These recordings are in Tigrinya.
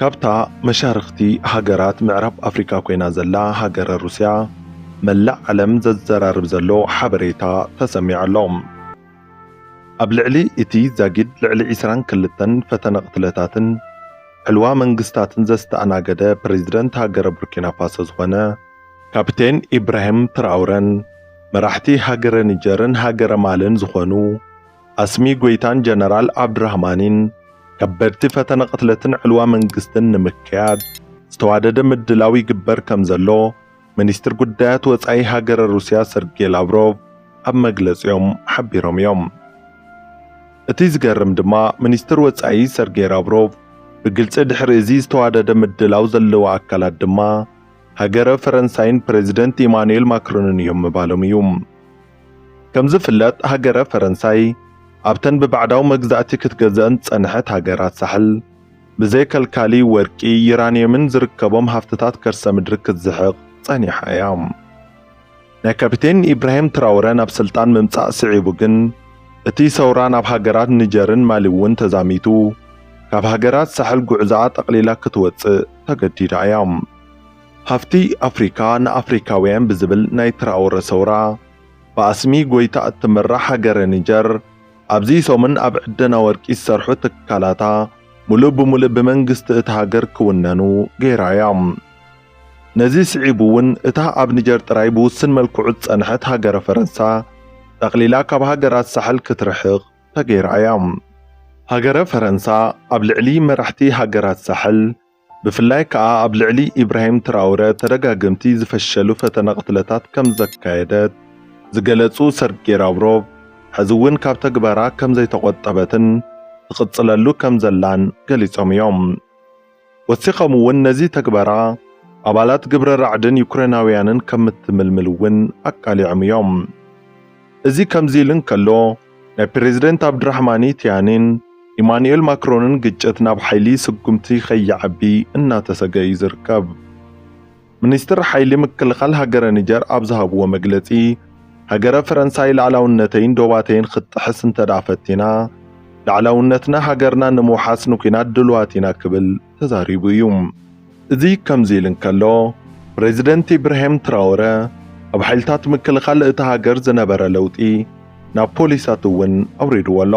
ካብታ መሻርኽቲ ሃገራት ምዕራብ ኣፍሪቃ ኮይና ዘላ ሃገረ ሩስያ መላእ ዓለም ዘዘራርብ ዘሎ ሓበሬታ ተሰሚዑ ኣሎ። ኣብ ልዕሊ እቲ ዛጊድ ልዕሊ ዕስራን ክልተን ፈተነ ቅትለታትን ዕልዋ መንግስታትን ዘስተኣናገደ ፕረዚደንት ሃገረ ቡርኪናፋሶ ዝኾነ ካፒቴን ኢብራሂም ትራውረን መራሕቲ ሃገረ ኒጀርን ሃገረ ማልን ዝኾኑ ኣስሚ ጎይታን ጀነራል ዓብዱራህማኒን ከበድቲ ፈተነ ቅትለትን ዕልዋ መንግስትን ንምክያድ ዝተዋደደ ምድላው ይግበር ከም ዘሎ ሚኒስትር ጉዳያት ወጻኢ ሃገረ ሩስያ ሰርጌ ላቭሮቭ ኣብ መግለጺኦም ሓቢሮም እዮም። እቲ ዝገርም ድማ ሚኒስትር ወጻኢ ሰርጌ ላቭሮቭ ብግልጺ ድሕሪ እዚ ዝተዋደደ ምድላው ዘለዎ ኣካላት ድማ ሃገረ ፈረንሳይን ፕረዚደንት ኢማኑኤል ማክሮንን እዮም ምባሎም እዩ። ከም ዝፍለጥ ሃገረ ፈረንሳይ ኣብተን ብባዕዳዊ መግዛእቲ ክትገዝእን ዝጸንሐት ሃገራት ሳሕል ብዘይ ከልካሊ ወርቂ፣ ዩራንየምን ዝርከቦም ሃፍትታት ከርሰ ምድሪ ክትዝሕቕ ጸኒሓ እያ። ናይ ካፒቴን ኢብራሂም ትራውረ ናብ ስልጣን ምምጻእ ስዒቡ ግን እቲ ሰውራ ናብ ሃገራት ኒጀርን ማሊ'ውን ተዛሚቱ ካብ ሃገራት ሳሕል ጉዕዞኣ ጠቕሊላ ክትወጽእ ተገዲዳ እያ። ሃፍቲ ኣፍሪካ ንኣፍሪካውያን ብዝብል ናይ ትራኦረ ሰውራ ብኣስሚ ጎይታ እትምራሕ ሃገረ ኒጀር ኣብዚ ሰሙን ኣብ ዕደና ወርቂ ዝሰርሑ ትካላታ ሙሉእ ብሙሉእ ብመንግስቲ እታ ሃገር ክውነኑ ገይራ እያ። ነዚ ስዒቡ እውን እታ ኣብ ኒጀር ጥራይ ብውስን መልክዑ ዝፀንሐት ሃገረ ፈረንሳ ጠቕሊላ ካብ ሃገራት ሳሕል ክትርሕቕ ተገይራ እያ። ሃገረ ፈረንሳ ኣብ ልዕሊ መራሕቲ ሃገራት ሳሕል ብፍላይ ከኣ ኣብ ልዕሊ ኢብራሂም ትራውረ ተደጋገምቲ ዝፈሸሉ ፈተነ ቅትለታት ከም ዘካየደት ዝገለጹ ሰርጌ ራብሮቭ፣ ሕዚ'ውን ካብ ተግባራ ከም ዘይተቖጠበትን ትቕጽለሉ ከም ዘላን ገሊጾም እዮም። ወሲኾም'ውን ነዚ ተግባራ ኣባላት ግብረ ራዕድን ዩክሬናውያንን ከም እትምልምል'ውን ኣቃሊዖም እዮም። እዚ ከምዚ ኢሉ እንከሎ፣ ናይ ፕረዚደንት ኣብድራሕማኒ ትያኒን ኢማኑኤል ማክሮንን ግጭት ናብ ሓይሊ ስጉምቲ ከይዓቢ እናተሰግኣ እዩ ዝርከብ። ሚኒስትር ሓይሊ ምክልኻል ሃገረ ኒጀር ኣብ ዝሃብዎ መግለጺ፣ ሃገረ ፈረንሳይ ልኣላውነተይን ዶባተይን ክትጥሕስ እንተድኣ ፈቲና፣ ልኣላውነትና ሃገርና ንምውሓስ ንኲናት ድሉዋት ኢና ክብል ተዛሪቡ እዩ። እዚ ከምዚ ኢሉ እንከሎ፣ ፕረዚደንት ኢብራሂም ትራወረ ኣብ ሓይልታት ምክልኻል እታ ሃገር ዝነበረ ለውጢ ናብ ፖሊሳት እውን ኣውሪድዎ ኣሎ።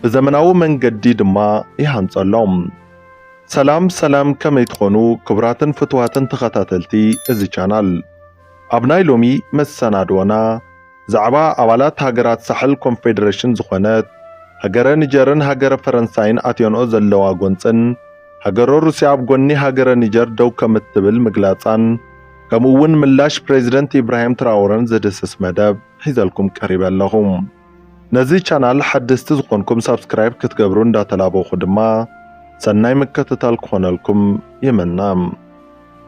ብዘመናዊ መንገዲ ድማ ይሃንጾ ኣሎ። ሰላም ሰላም ከመይ ትኾኑ ክቡራትን ፍቱዋትን ተኸታተልቲ እዚ ቻናል። ኣብ ናይ ሎሚ መሰናድዎና፣ ብዛዕባ ኣባላት ሃገራት ሳሕል ኮንፌደረሽን ዝኾነት ሃገረ ኒጀርን ሃገረ ፈረንሳይን ኣትዮንኦ ዘለዋ ጎንጽን ሃገረ ሩስያ ኣብ ጎኒ ሃገረ ኒጀር ደው ከምትብል ምግላጻን ከምኡ ውን ምላሽ ፕሬዚደንት ኢብራሂም ትራወረን ዝድህስስ መደብ ሒዘልኩም ቀሪበ ኣለኹ። ነዚ ቻናል ሓደስቲ ዝኾንኩም ሳብስክራይብ ክትገብሩ እንዳተላበኹ ድማ ሰናይ ምክትታል ክኾነልኩም ይምነ።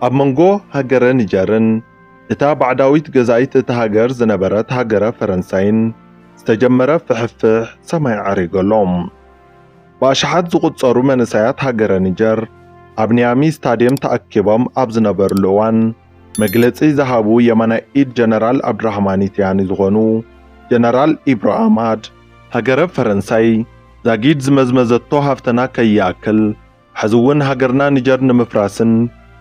ኣብ መንጎ ሃገረ ኒጀርን እታ ባዕዳዊት ገዛኢት እታ ሃገር ዝነበረት ሃገረ ፈረንሳይን ዝተጀመረ ፍሕፍሕ ሰማይ ዓሪጉ ኣሎ። ብኣሽሓት ዝቑጸሩ መንእሰያት ሃገረ ኒጀር ኣብ ኒያሚ ስታድየም ተኣኪቦም ኣብ ዝነበርሉ እዋን መግለጺ ዝሃቡ የማናይ ኢድ ጀነራል ኣብድራህማኒ ትያኒ ዝኾኑ ጀነራል ኢብሮ ኣማድ ሃገረ ፈረንሳይ ዛጊድ ዝመዝመዘቶ ሃፍተና ከይኣክል፣ ሕዚ እውን ሃገርና ኒጀር ንምፍራስን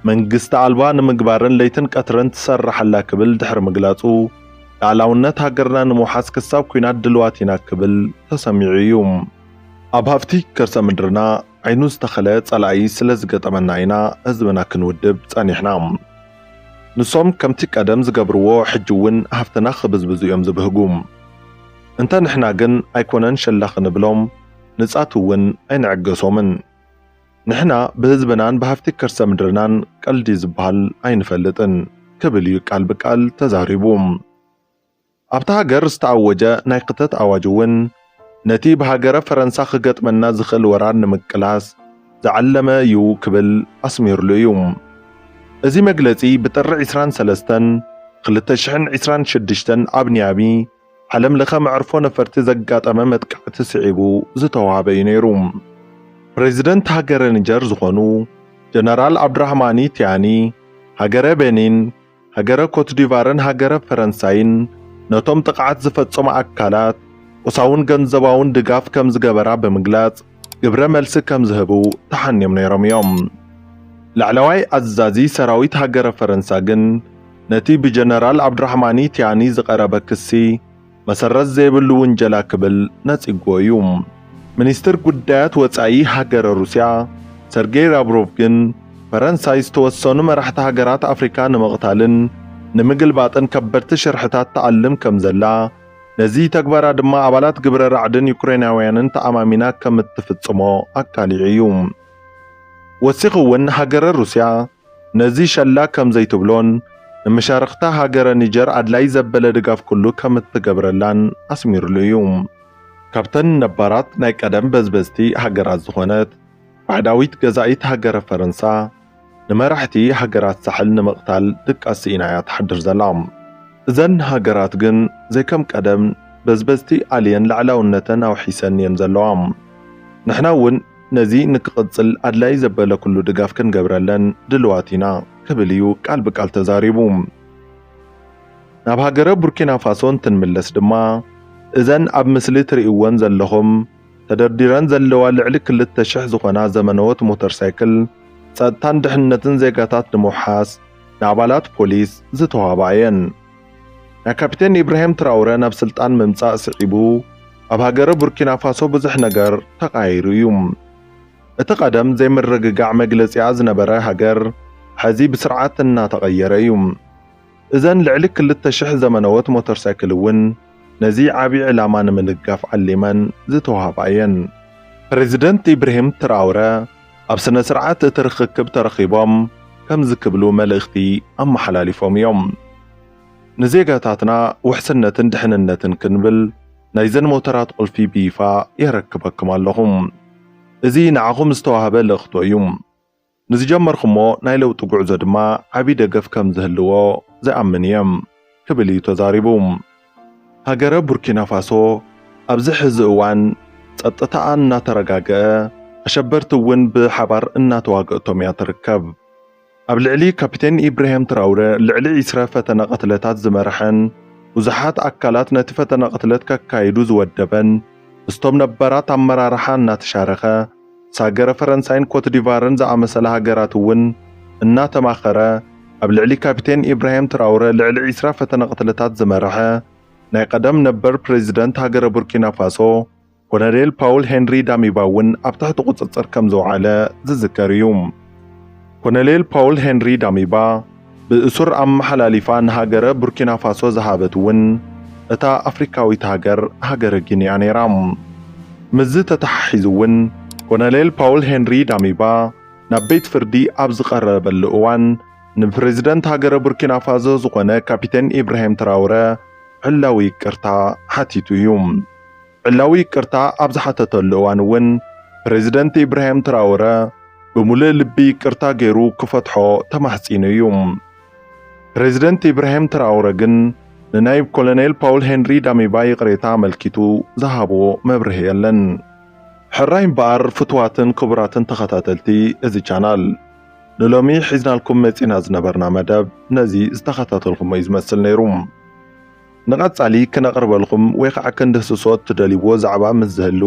መንግስቲ ኣልባ ንምግባርን ለይትን ቀትርን ትሰርሕ ኣላ ክብል ድሕሪ ምግላጹ፣ ልኣላውነት ሃገርና ንምውሓስ ክሳብ ኲናት ድልዋት ኢና ክብል ተሰሚዑ እዩ። ኣብ ሃፍቲ ከርሰ ምድርና ዓይኑ ዝተኸለ ጸላኢ ስለ ዝገጠመና ኢና ህዝብና ክንውድብ ጸኒሕና። ንሶም ከምቲ ቀደም ዝገብርዎ ሕጂ እውን ሃፍትና ክብዝብዙ እዮም ዝብህጉ። እንተ ንሕና ግን ኣይኮነን ሸላኽ እንብሎም። ንጻት እውን ኣይንዕገሶምን። ንሕና ብህዝብናን ብሃፍቲ ከርሰ ምድርናን ቀልዲ ዝበሃል ኣይንፈልጥን ክብል እዩ ቃል ብቃል ተዛሪቡ። ኣብታ ሃገር ዝተኣወጀ ናይ ክተት ኣዋጅ እውን ነቲ ብሃገረ ፈረንሳ ክገጥመና ዝኽእል ወራር ንምቅላስ ዝዓለመ እዩ ክብል ኣስሚርሉ እዩ። እዚ መግለጺ ብጥሪ ዕስራን ሰለስተን ክልተ ሽሕን ዕስራን ሽዱሽተን ኣብ ኒያሚ፣ ዓለም ለኸ መዕርፎ ነፈርቲ ዘጋጠመ መጥቃዕቲ ስዒቡ ዝተዋህበ እዩ ነይሩ። ፕሬዚደንት ሃገረ ኒጀር ዝኾኑ ጀነራል ኣብድራህማኒ ቲያኒ ሃገረ ቤኒን፣ ሃገረ ኮትዲቫርን ሃገረ ፈረንሳይን ነቶም ጥቕዓት ዝፈፀሙ ኣካላት ቁሳውን ገንዘባውን ድጋፍ ከምዝገበራ ብምግላፅ፣ ግብረ መልሲ ከም ዝህቡ ተሓንዮም ነይሮም እዮም። ላዕለዋይ ኣዛዚ ሰራዊት ሃገረ ፈረንሳ ግን ነቲ ብጀነራል ዓብዱራሕማኒ ቲያኒ ዝቐረበ ክሲ መሰረት ዘይብሉ ውንጀላ ክብል ነጺግዎ እዩ። ሚኒስትር ጉዳያት ወጻኢ ሃገረ ሩስያ ሰርጌይ ራብሮቭ ግን ፈረንሳይ ዝተወሰኑ መራሕቲ ሃገራት ኣፍሪካ ንምቕታልን ንምግልባጥን ከበድቲ ሽርሕታት ትኣልም ከም ዘላ ነዚ ተግባራ ድማ ኣባላት ግብረ ራዕድን ዩክሬናውያንን ተኣማሚና ከም እትፍጽሞ ኣካሊዑ እዩ። ወሲኹ እውን ሃገረ ሩስያ ነዚ ሸላ ከም ዘይትብሎን ንመሻርኽታ ሃገረ ኒጀር ኣድላዪ ዘበለ ድጋፍ ኩሉ ከም እትገብረላን ኣስሚሩሉ እዩ። ካብተን ነባራት ናይ ቀደም በዝበዝቲ ሃገራት ዝኾነት ባዕዳዊት ገዛኢት ሃገረ ፈረንሳ፣ ንመራሕቲ ሃገራት ሳሕል ንምቕታል ድቃስ ስኢና እያ ትሓድር ዘላ። እዘን ሃገራት ግን ዘይከም ቀደም በዝበዝቲ ኣልየን ላዕላውነተን ኣውሒሰን እየን ዘለዋ። ንሕና እውን ነዚ ንክቕጽል ኣድላዪ ዘበለ ኩሉ ድጋፍ ክንገብረለን ድልዋት ኢና ክብል እዩ ቃል ብቃል ተዛሪቡ። ናብ ሃገረ ቡርኪናፋሶ እንትንምለስ ድማ እዘን ኣብ ምስሊ ትርእይወን ዘለኹም ተደርዲረን ዘለዋ ልዕሊ ክልተ ሽሕ ዝኾና ዘመነዎት ሞተር ሳይክል ጸጥታን ድሕንነትን ዜጋታት ንምውሓስ ንኣባላት ፖሊስ ዝተዋህባ እየን። ናይ ካፒቴን ኢብራሂም ትራውረ ናብ ስልጣን ምምጻእ ስዒቡ ኣብ ሃገረ ቡርኪናፋሶ ብዙሕ ነገር ተቓይሩ እዩ። እቲ ቀደም ዘይምርግጋዕ መግለጺኣ ዝነበረ ሃገር ሕዚ ብስርዓት እናተቐየረ እዩ። እዘን ልዕሊ ክልተ ሽሕ ዘመነዎት ሞተር ሳይክል እውን ነዚ ዓብዪ ዕላማ ንምንጋፍ ዓሊመን ዝተውሃባ እየን። ፕረዚደንት ኢብርሂም ትራውረ ኣብ ስነ ስርዓት እቲ ርኽክብ ተረኺቦም ከምዚ ክብሉ መልእኽቲ ኣመሓላሊፎም እዮም። ንዜጋታትና ውሕስነትን ድሕንነትን ክንብል ናይዘን ሞተራት ቁልፊ ብይፋ የረክበኩም ኣለኹ። እዚ ንዓኹም ዝተዋህበ ልእኽቶ እዩ። ንዝጀመርኩሞ ናይ ለውጢ ጉዕዞ ድማ ዓቢ ደገፍ ከም ዝህልዎ ዝኣምን እየ ክብል እዩ ተዛሪቡ። ሃገረ ቡርኪናፋሶ ኣብዚ ሕዚ እዋን ጸጥታኣ እናተረጋገኣ ኣሸበርቲ እውን ብሓባር እናተዋገእቶም እያ ትርከብ። ኣብ ልዕሊ ካፒቴን ኢብርሄም ትራውረ ልዕሊ ዒስረ ፈተነ ቅትለታት ዝመርሐን ብዙሓት ኣካላት ነቲ ፈተነ ቅትለት ከካይዱ ዝወደበን ምስቶም ነበራት ኣመራርሓ እናተሻረኸ ምስ ሃገረ ፈረንሳይን ኮትዲቫርን ዝኣመሰላ ሃገራት እውን እናተማኸረ ኣብ ልዕሊ ካፒቴን ኢብራሂም ትራውረ ልዕሊ ዕስራ ፈተነ ቅትለታት ዝመርሐ ናይ ቐደም ነበር ፕረዚደንት ሃገረ ቡርኪናፋሶ ኮሎኔል ፓውል ሄንሪ ዳሚባ እውን ኣብ ትሕቲ ቁፅፅር ከምዘውዓለ ዝዝከር እዩ። ኮሎኔል ፖውል ሄንሪ ዳሚባ ብእሱር ኣመሓላሊፋ ንሃገረ ቡርኪናፋሶ ዝሃበት እውን እታ ኣፍሪካዊት ሃገር ሃገረ ጊኒ'ያ ነይራ። ምስዚ ተተሓሒዙ እውን ኮሎኔል ፖውል ሄንሪ ዳሚባ ናብ ቤት ፍርዲ ኣብ ዝቐረበሉ እዋን ንፕረዚደንት ሃገረ ቡርኪናፋዞ ዝኾነ ካፒቴን ኢብራሂም ትራውረ ዕላዊ ይቅርታ ሓቲቱ እዩ። ዕላዊ ይቅርታ ኣብ ዝሓተተሉ እዋን እውን ፕረዚደንት ኢብራሂም ትራወረ ብምሉእ ልቢ ይቅርታ ገይሩ ክፈትሖ ተማሕጺኑ እዩ። ፕረዚደንት ኢብራሂም ትራወረ ግን ንናይብ ኮሎኔል ፓውል ሄንሪ ዳሚባ ይቅሬታ ኣመልኪቱ ዝሃቦ መብርሂ የለን። ሕራይ እምበኣር ፍቱዋትን ክቡራትን ተኸታተልቲ እዚ ቻናል ንሎሚ ሒዝናልኩም መጺእና ዝነበርና መደብ ነዚ ዝተኸታተልኩሞ እዩ ዝመስል ነይሩ። ንቐጻሊ ክነቕርበልኩም ወይ ኻዓ ክንድህስሶ እትደልይዎ ዛዕባ ምስ ዝህሉ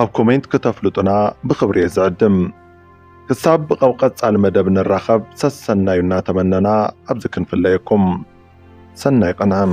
ኣብ ኮሜንት ክተፍልጡና ብኽብሪ እየ ዝዕድም። ክሳብ ኣብ ቐጻሊ መደብ ንራኸብ ሰሰናዩ እናተመነና ኣብዚ ክንፍለየኩም። ሰናይ ቕንኢ።